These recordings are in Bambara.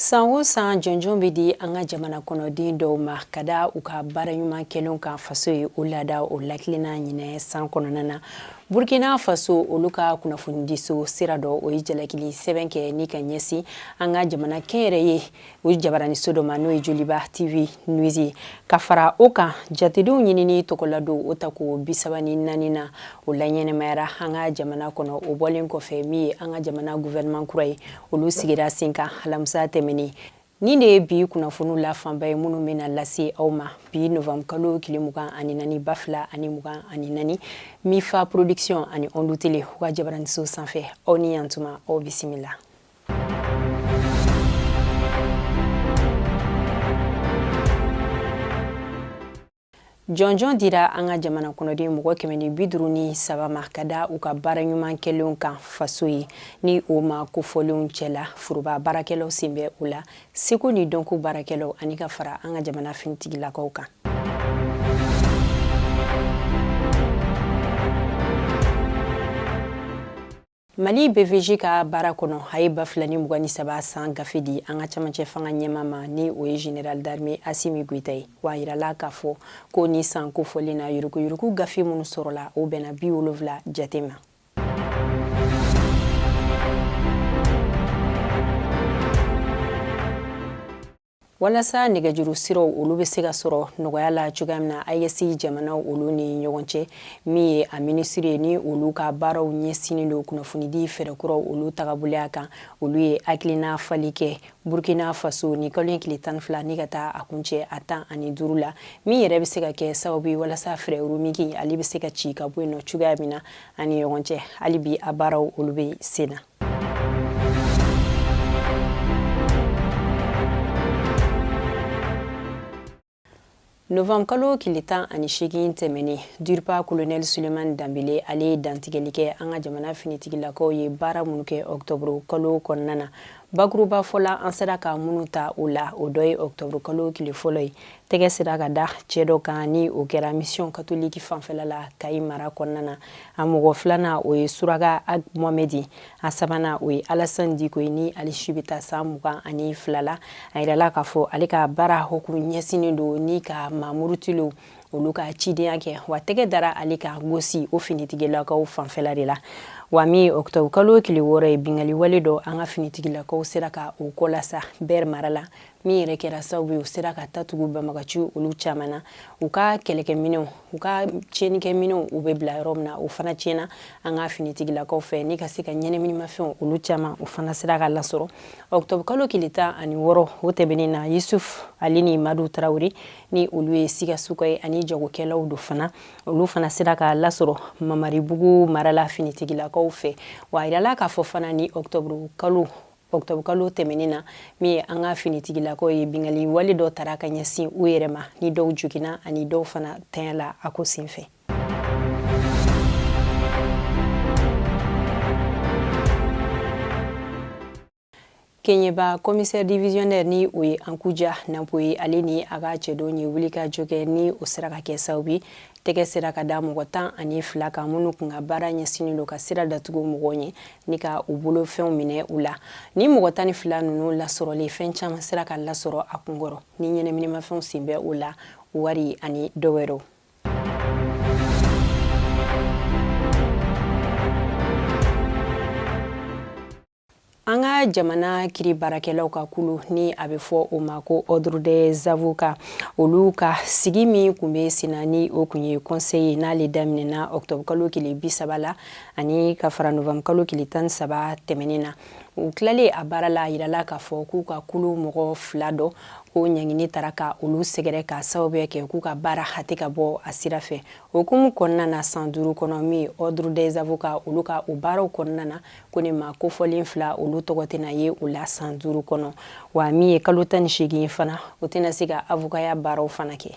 san o san jɔnjɔn bɛ di an ka jamana kɔnɔden dɔw ma ka da u ka baara ɲuman kɛlenw kan faso ye o laada o lakilenna ɲinɛ san kɔnɔna na burkina faso olu ka kunnafonidiso sira dɔ o ye jalakili sɛbɛn kɛ ni ka ɲɛsin an ka jamana kɛnyɛrɛye o jabaraniso dɔ ma n'o ye joliba tv news ye ka fara o kan jatedenw ɲinini tɔgɔladon o tako bisaba ni naani na o laɲɛnamayara an ka jamana kɔnɔ o bɔlen kɔfɛ min ye an ka jamana guvɛrɛnman kura ye olu sigira sen kan alamisa tɛmɛnen Nin de ye bi kunnafoniw la fanba ye minnu bɛna lase aw ma bi novanburukalo tile mugan ani naani ba fila ani mugan ani naani mifa production ani ondu tele u ka jabaraniso sanfɛ aw ni yantuma aw bisimila jɔnjɔn dira an ka jamana kɔnɔden mɔgɔ kɛmɛ ni bi duuru ni saba ma ka da u ka baara ɲuman kɛlenw kan faso ye ni o maa kofɔlenw cɛla foroba baarakɛlaw sen bɛ o la seko ni dɔnko baarakɛlaw ani ka fara an ka jamana finitigilakaw kan Mali BVG ka baara kɔnɔ a ye ba fila ni mugan ni saba san gafe di an ka camancɛ fanga ɲɛmaa ma ni o ye général d'armée Asimi Goita ye wa a yirala k'a fɔ ko nin san kofɔlen na yurukuyuruku gafe minnu sɔrɔla o bɛnna bi wolonwula jate ma. walasa nɛgɛjuru siraw olu bɛ se ka sɔrɔ nɔgɔya la cogoya min na AES jamanaw olu ni ɲɔgɔn cɛ min ye a minisiri ye ni olu ka baaraw ɲɛsinnen don kunnafonidi fɛɛrɛ kuraw olu tagaboloya kan olu ye hakilina falen kɛ Burkina Faso nin kalo in tile tan ni fila ni ka taa a kuncɛ a tan ani duuru la min yɛrɛ bɛ se ka kɛ sababu ye walasa frais roaming ale bɛ se ka ci ka bɔ yen nɔ cogoya min na an ni ɲɔgɔn cɛ hali bi a baaraw olu bɛ sen na Novanburu kalo tile tan ani seegin tɛmɛnen DIRPA kolonɛli sulemani danbele ale ye dantigɛli kɛ an ka jamana finitigilakaw ye baara minnu kɛ ɔktɔburu kalo kɔnɔna na bakurubafɔ la an sera ka minnu ta o la o dɔ ye ɔktɔburu kalo tile fɔlɔ ye tɛgɛ sera ka da cɛ dɔ kan ni o kɛra misiyɔn katoliki fanfɛla la kayi mara kɔnɔna na a mɔgɔ filanan o ye suraka ag mohamɛdi a sabanan o ye alasani diko ye ni ale si bɛ taa san mugan ani fila la a yirala k'a fɔ ale ka baara hukumu ɲɛsinnen don ni ka maa murutilenw olu ka cidenya kɛ wa tɛgɛ dara ale kan gosi o finitigilakaw fanfɛla de la wa min ye ɔkutɔburu kalo tile wɔɔrɔ ye binkali wale dɔ an ka finitigilakaw sera ka o kɔlasa bɛr mara la min yɛrɛ kɛra sababu ye u sera ka tatugu banbagaci olu caman na u ka kɛlɛkɛminɛnw u ka tiɲɛnikɛminɛnw u bɛ bila yɔrɔ min na o fana tiɲɛna an ka finitigilakaw fɛ ni ka se ka ɲɛnaminimafɛnw olu caman o fana sera ka lasɔrɔ ɔktɔburu kalo kile tan ani wɔɔrɔ o tɛmɛnen na yusuf ale ni madu tarawele ni olu ye sikasokaw ye ani jagokɛlaw don fana olu fana sera ka lasɔrɔ mamaribugu mara la finitigilakaw fɛ wa a yirala k'a fɔ fana ni ɔktɔburu kalo octobre kalo tɛmɛnen na min ye an ka finitigilakaw ye bingali wale dɔ taara ka ɲɛsin u yɛrɛ ma ni dɔw joginna ani dɔw fana tanyala a ko senfɛ keɲeba commissaire divisionnaire ni o ye ankuja napo ye ale ni a ka cɛdenw ye wulikajɔ kɛ ni o sera ka kɛ sababu ye tɛgɛ sera ka da mɔgɔ tan ani fila kan minnu kun ka baara ɲɛsinnen don ka sira datugu mɔgɔw ɲɛ ni ka u bolofɛnw minɛ u la ni mɔgɔ tan ni fila ninnu lasɔrɔlen fɛn caman sera ka lasɔrɔ a kunkɔrɔ ni ɲɛnɛminimafɛnw sen bɛ o la wari ani dɔ wɛrɛw an ka jamana kiri baarakɛlaw ka kulu ni a bɛ fɔ o ma ko ordre des avocats olu ka sigi min tun bɛ senna ni o tun ye conseil ye n'ale daminɛna octobre kalo tile bi saba la ani ka fara novembre kalo tile tan ni saba tɛmɛnen na u tilalen a baara la a yirala k'a fɔ k'u ka kulu mɔgɔ fila dɔ ko ɲangini taara ka olu sɛgɛrɛ ka sababuya kɛ k'u ka baara hate ka bɔ a sira fɛ o hukumu kɔnɔna na san duuru kɔnɔ min ordre des avocats olu ka o baaraw kɔnɔna na ko nin maa kofɔlen fila olu tɔgɔ tɛna ye o la san duuru kɔnɔ wa min ye kalo tan ni seegin fana o tɛna se ka avokaya baaraw fana kɛ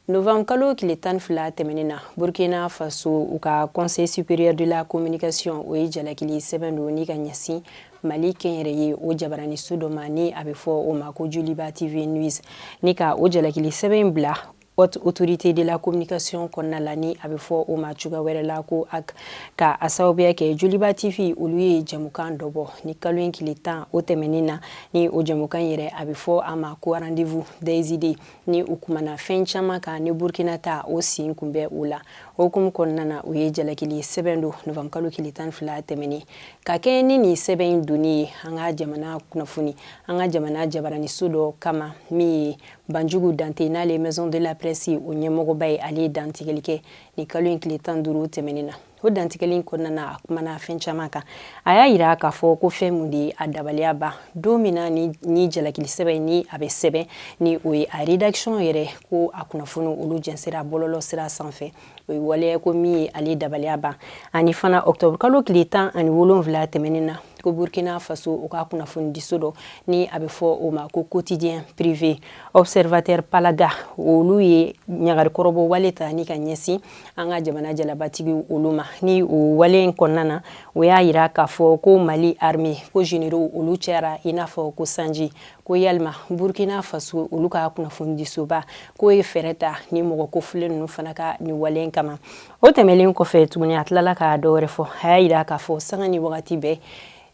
novembre kalo tile tan ni fila tɛmɛnen na burkina faso u ka conseil supérieur de la communication o ye jalakili sɛbɛn don ni ka ɲɛsin Mali kɛnyɛrɛye o jabaraniso dɔ ma ni a bɛ fɔ o ma ko joliba TV news ni ka o jalakili sɛbɛn in bila haute autorité de la communication kɔnɔna la ni a bɛ fɔ o ma cogoya wɛrɛ la ko HAC ka a sababuya kɛ joliba TV olu ye jɛmukan dɔ bɔ ni kalo in kile tan o tɛmɛnen na ni o jɛmukan yɛrɛ a bɛ fɔ a ma ko rendez-vous des idées ni u kumana fɛn caman kan ni burkina ta o sen kun bɛ o la o hukumu kɔnɔna na u ye jalakili sɛbɛn don novembre kalo kile tan fila tɛmɛnen ka kɛɲɛ ni nin sɛbɛn in donni ye an ka jamana kunnafoni an ka jamana jabaraniso dɔ kama min ye banjugu dante n'ale maison de la presse o ɲɛmɔgɔba ye ale ye dantigɛli kɛ nin kalo in tile tan duuru tɛmɛnen na o dantigɛli in kɔnɔna na a kumana fɛn caman kan a y'a yira k'a fɔ ko fɛn mun de ye a dabaliya ban don min na nin jalakili sɛbɛn ni a bɛ sɛbɛn ni o ye a rédaction yɛrɛ ko a kunnafoni olu jɛnsera bɔlɔlɔ sira sanfɛ o ye waleya ko min ye ale dabaliya ban ani fana octobre kalo tile tan ani wolonwula tɛmɛnen na ko burkina faso u ka kunnafonidiso dɔ ni a bɛ fɔ o ma ko quotidien privé observateur paalga olu ye ɲagarikɔrɔbɔ wale ta ni ka ɲɛsin an ka jamana jalabatigi olu ma ni o wale in kɔnɔna na o y'a yira k'a fɔ ko mali armée ko généraux olu cayara i n'a fɔ ko sanji ko yalima burkina faso olu ka kunnafonidisoba k'o ye fɛɛrɛ ta ni mɔgɔ kofulen ninnu fana ka nin wale in kama o tɛmɛlen kɔfɛ tuguni a tilala ka dɔ wɛrɛ fɔ a y'a yira k'a fɔ sanga ni wagati bɛɛ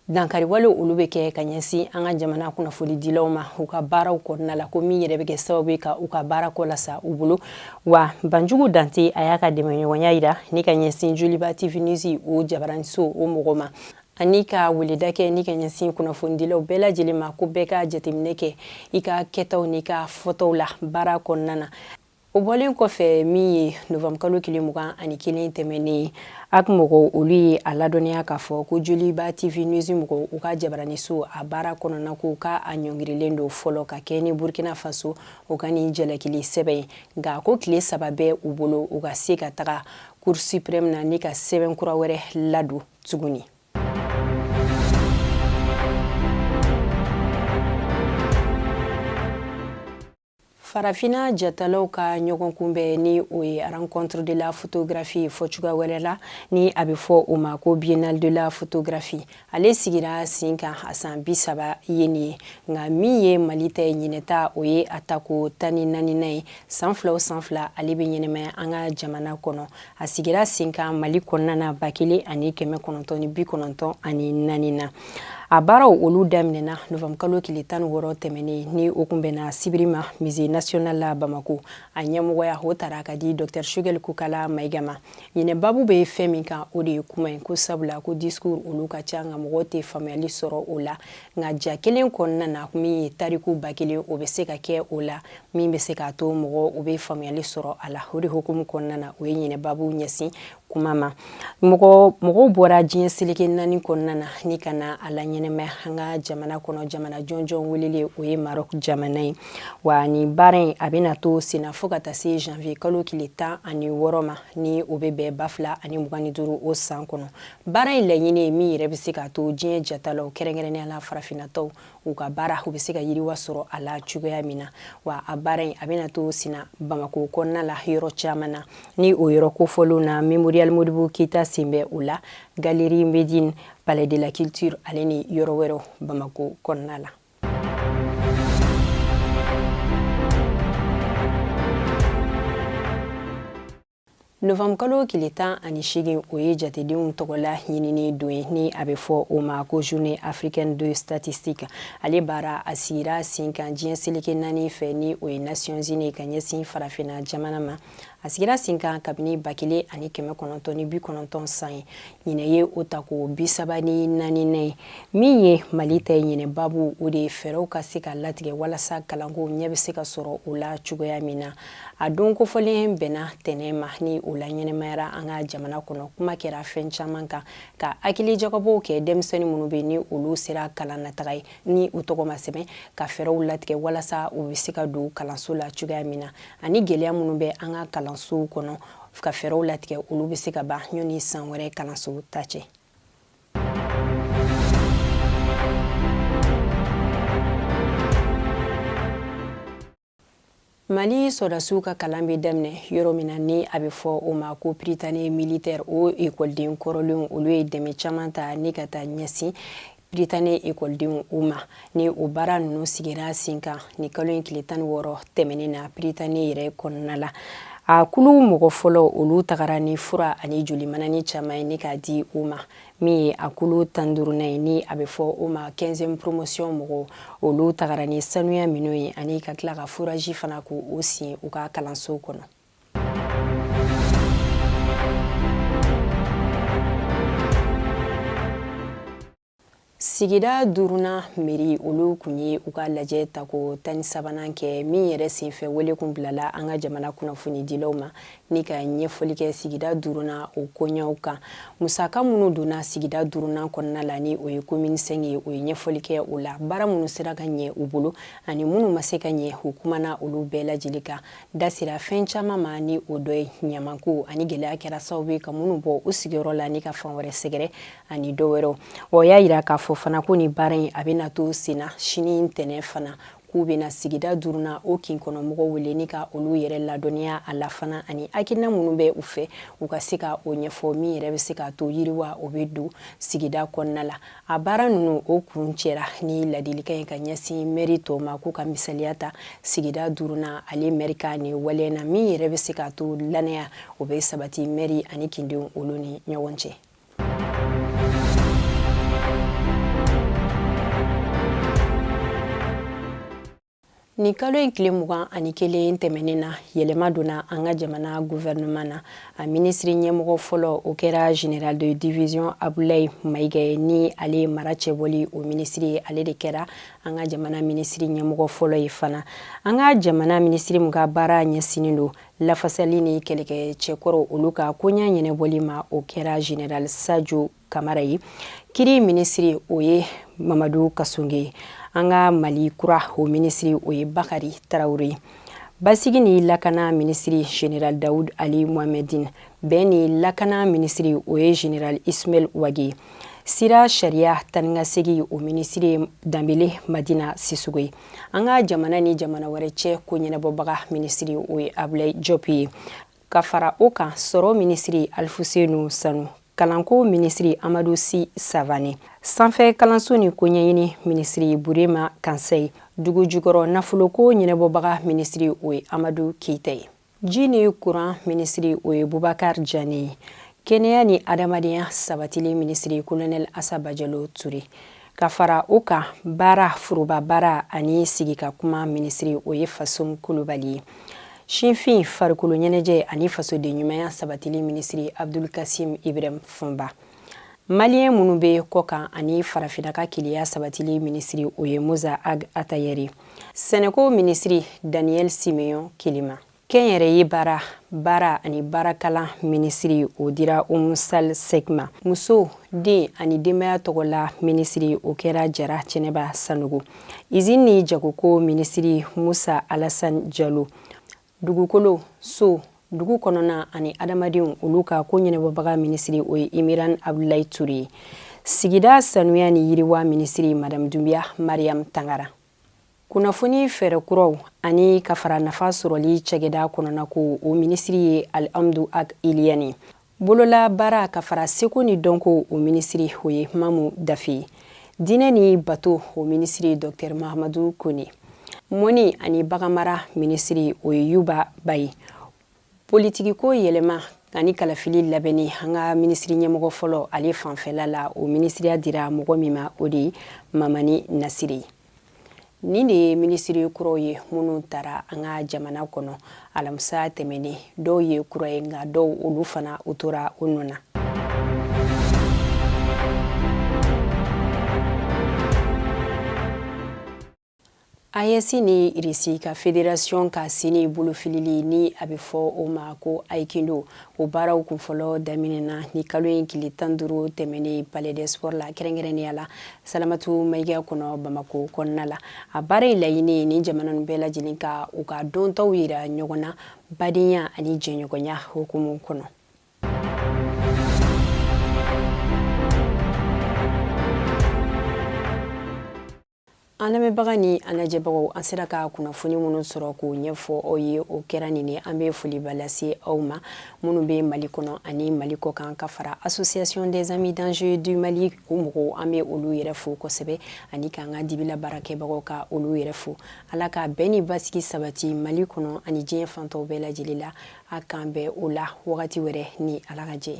dankari wale olu bɛ kɛ ka ɲɛsin an ka jamana kunnafonidilaw ma u ka baaraw kɔnɔna la ko min yɛrɛ bɛ kɛ sababu ye ka u ka baara kɔ lasa u bolo wa banjugu dante a y'a ka dɛmɛɲɔgɔnya yira ni ka ɲɛsin joliba tv news o jabaraniso o mɔgɔ ma ani ka weleda kɛ ni ka ɲɛsin kunnafonidilaw bɛɛ lajɛlen ma ko bɛɛ ka jateminɛ kɛ i ka kɛtaw n'i ka fɔtaw la baara kɔnɔna na O bɔlen kɔfɛ min ye novembre kalo tile mugan ani kelen tɛmɛnen hac mɔgɔw olu ye a ladɔnniya k'a fɔ ko joliba tv news mɔgɔw u ka jabaraniso a baara kɔnɔna ko ka a ɲɔngirilen don fɔlɔ ka kɛɲɛ ni burkina faso u ka nin jalakili sɛbɛn ye nka ko tile saba bɛ u bolo u ka se ka taga cour suprême na ni ka sɛbɛn kura wɛrɛ ladon tuguni Farafina jatalaw ka ɲɔgɔn kunbɛn ni o ye rencontre de la photographie fɔ cogoya wɛrɛ la ni a bɛ fɔ o ma ko biennale de la photographie ale sigira sen kan a san bi saba ye nin ye nka min ye mali ta ye ɲinɛ ta o ye a tako tan ni naaninan ye san fila o san fila ale bɛ ɲɛnamaya an ka jamana kɔnɔ a sigira sen kan mali kɔnɔna na ba kelen ani kɛmɛ kɔnɔntɔn ni bi kɔnɔntɔn ani naani na a baaraw olu daminɛna novembre kalo tile tan ni wɔɔrɔ tɛmɛnen ni o kun bɛnna sibiri ma musée national la bamako a ɲɛmɔgɔya o tara ka di dɔktɛr choguel kokalla maïga ma ɲinɛ babu bɛ fɛn min kan o de ye kuma ye ko sabula ko discours olu ka ca nka mɔgɔw tɛ faamuyali sɔrɔ o la nka ja kelen kɔnɔna na min ye tariku ba kelen o bɛ se ka kɛ o la min bɛ se k'a to mɔgɔw bɛ faamuyali sɔrɔ a la o de hukumu kɔnɔna na o ye ɲinɛ babu ɲɛsin kuma ma mɔgɔw bɔra diɲɛ seleke naani kɔnɔna na ni ka na a laɲɛnamaya an ka jamana kɔnɔ jamana jɔnjɔn welelen o ye maroc jamana ye wa ni baara in a bɛna to senna fo ka taa se janvier kalo tile tan ani wɔɔrɔ ma ni o bɛ bɛn ba fila ani mugan ni duuru o san kɔnɔ baara in laɲini ye min yɛrɛ bɛ se k'a to diɲɛ jatalaw kɛrɛnkɛrɛnnenya la farafinna taw u ka baara u bɛ se ka yiriwa sɔrɔ a la cogoya min na wa a baara in a bɛna to senna bamakɔ kɔnɔna la yɔrɔ caman na ni o yɔrɔ kofɔlen na memorial modibo keyita sen bɛ o la galerie medine palais de la culture ale ni yɔrɔ wɛrɛw bamakɔ kɔnɔna la novanbukalo tile tan ani seegin o ye jatedenw tɔgɔla ɲinini don ye ni a bɛ fɔ o ma ko journée africaine de statistique ale baara a sigira sen kan diɲɛ seleke naani fɛ ni o ye nations unies ka ɲɛsin farafinna jamana ma a sigira sen kan kabini ba kelen ani kɛmɛ kɔnɔntɔn ni bi kɔnɔntɔn san ye ɲinɛ ye o tako bi saba ni naaninan ye min ye mali ta ye ɲinɛ babu o de ye fɛɛrɛw ka se ka latigɛ walasa kalanko ɲɛ bɛ se ka sɔrɔ o la cogoya min na a don kofɔlen bɛnna ntɛnɛn ma ni o laɲɛnamayara an ka jamana kɔnɔ kuma kɛra fɛn caman kan ka hakili jagabɔw kɛ denmisɛnnin minnu bɛ ni olu sera kalan na taga ye ni u tɔgɔ ma sɛbɛn ka fɛɛrɛw latigɛ walasa u bɛ se ka don kalanso la cogoya min na ani gɛlɛya minnu bɛ an ka kalansow kɔnɔ ka fɛɛrɛw latigɛ olu bɛ se ka ban yanni san wɛrɛ kalanso ta cɛ Mali sɔrɔdasiw ka kalan bɛ daminɛ yɔrɔ min na ni a bɛ fɔ o ma ko Prytanée militaire o ekɔliden kɔrɔlenw olu ye dɛmɛ caman ta ni ka taa ɲɛsin Prytanée ekɔlidenw u ma ni o baara ninnu sigira sen kan nin kalo in tile tan ni wɔɔrɔ tɛmɛnen na Prytanée yɛrɛ kɔnɔna la a kulu mɔgɔ fɔlɔ olu tagara ni fura ani joli manani caman ye ni k'a di u ma min ye a kulu tan duurunan ye ni a bɛ fɔ o ma quinzième promotion mɔgɔw olu tagara ni sanuya minɛnw ye ani ka tila ka furaji fana k'o sin u ka kalanso kɔnɔ sigida duurunan mɛri olu kun ye u ka lajɛ tako tan ni sabanan kɛ min yɛrɛ senfɛ wele kun bilala an ka jamana kunnafonidilaw ma ni ka ɲɛfɔli kɛ sigida duurunan o koɲaw kan musaka minnu donna sigida duurunan kɔnɔna la ni o ye commune cinq ye o ye ɲɛfɔli kɛ o la baara minnu sera ka ɲɛ u bolo ani minnu ma se ka ɲɛ u kumana olu bɛɛ lajɛlen kan da sera fɛn caman ma ni o dɔ ye ɲamanko ani gɛlɛya kɛra sababu ye ka minnu bɔ u sigiyɔrɔ la ni ka fan wɛrɛ sɛgɛrɛ ani dɔ wɛrɛw o y'a yira k'a fɔ fana ko ni baara in a bɛna to senna sini ntɛnɛn fana k'u bɛna sigida duurunan o kin kɔnɔ mɔgɔ wele ni ka olu yɛrɛ ladɔnniya a la fana ani hakilina minnu bɛ u fɛ u ka se ka o ɲɛfɔ min yɛrɛ bɛ se k'a to yiriwa o bɛ don sigida kɔnɔna la a baara ninnu o kuncɛra ni ladilikan ye ka ɲɛsin mɛri tɔw ma k'u ka misaliya ta sigida duurunan ale mɛri ka nin waleya na min yɛrɛ bɛ se k'a to lannaya o bɛ sabati mɛri ani kindenw olu ni ɲɔgɔn cɛ nin kalo in tile mugan ani kelen tɛmɛnen na yɛlɛma donna an ka jamana guvɛrɛnɛman na a minisiri ɲɛmɔgɔ fɔlɔ o kɛra general de division abulayi mayiga ye ni ale ye mara cɛbɔli o minisiri ye ale de kɛra an ka jamana minisiri ɲɛmɔgɔ fɔlɔ ye fana an ka jamana minisiri min ka baara ɲɛsinnen don lafasali ni kɛlɛkɛcɛ kɔrɔ olu ka koɲa ɲɛnabɔli ma o kɛra general sajo kamara ye kiri minisiri o ye mamadu kasonge an ka mali kura o minisiri o ye bakari tarawele ye basigi ni lakana minisiri general daoud ali mohamedin bɛn ni lakana minisiri o ye general ismail wage sira sariya taanikasegin o minisiri danbele madina sisoko ye an ka jamana ni jamana wɛrɛ cɛ ko ɲɛnabɔbaga minisiri o ye abulayi jɔp ye ka fara o kan sɔrɔ minisiri alifusenu sanu kalanko minisiri amadu si savane sanfɛ kalanso ni koɲɛɲini minisiri burema kansɛyi dugu jukɔrɔ nafoloko ɲɛnabɔbaga minisiri o ye amadu keyita ye ji ni kuran minisiri o ye bubakar jane ye kɛnɛya ni adamadenya sabatili minisiri kolonɛl asa bajalo ture ka fara o kan baara foroba baara ani sigi ka kuma minisiri o ye fasun kulubali ye sifin farikolo ɲɛnajɛ ani fasoden ɲumanya sabatili minisiri abdul kasim ibrahim fɔnba Maliyɛn minnu bɛ kɔkan ani farafinna ka kelenya sabatili minisiri o ye Mosa Ag Atayɛri, sɛnɛko minisiri Daniyɛli Simeyɔn Kelema, kɛnyɛrɛye baara, baara ani baarakalan minisiri o dira Umu Sal Sɛk ma, muso, den ani denbaya tɔgɔla minisiri o kɛra Jara Jɛnɛba Sanogo, izini ni jagoko minisiri Musa Alasani Jalo, dugukolo so dugu kɔnɔna ani adamadenw olu ka ko ɲɛnabɔbaga minisiri o ye imiran abdulayi ture ye sigida sanuya ni yiriwa minisiri madame dunbiya mariam tangara kunnafoni fɛɛrɛ kuraw ani ka fara nafa sɔrɔli cakɛda kɔnɔna ko o minisiri ye alihamdu ag iliyani bolola baara ka fara seko ni dɔnko o minisiri o ye mamu dafe ye diinɛ ni bato o minisiri dɔktɛr mahamadu kone mɔni ani baganmara minisiri o ye yuba ba ye politikiko yɛlɛma ani kalafili labɛnni an ka minisiri ɲɛmɔgɔ fɔlɔ ale fanfɛla la o minisiriya dira mɔgɔ min ma o de ye mamani nasire ye nin de ye minisiri kuraw ye minnu tara an ka jamana kɔnɔ alamisa tɛmɛnen dɔw ye kura ye nka dɔw olu fana u tora u nɔ na AES ni Irisi ka federasiyɔn ka sini bolofilili ni a bɛ fɔ o ma ko Aikido o baaraw kun fɔlɔ daminɛna nin kalo in tile tan duuru tɛmɛnen palais des sports la kɛrɛnkɛrɛnnenya la salamatu mayiga kɔnɔ bamako kɔnɔna la a baara in laɲini ye nin jamana ninnu bɛɛ lajɛlen ka u ka dɔntaw yira ɲɔgɔn na badenya ani jɛɲɔgɔnya hukumu kɔnɔ an lamɛnbaga ni an lajɛbagaw an sera ka kunnafoni minnu sɔrɔ k'o ɲɛfɔ aw ye o kɛra nin ye an bɛ foliba lase aw ma minnu bɛ mali kɔnɔ ani mali kɔkan ka fara association des amis d'angers du mali o mɔgɔw an bɛ olu yɛrɛ fo kosɛbɛ ani k'an ka dibila baarakɛbagaw ka olu yɛrɛ fo ala ka bɛn ni basigi sabati mali kɔnɔ ani diɲɛ fan tɔw bɛɛ lajɛlen la a k'an bɛn o la wagati wɛrɛ ni ala ka jɛ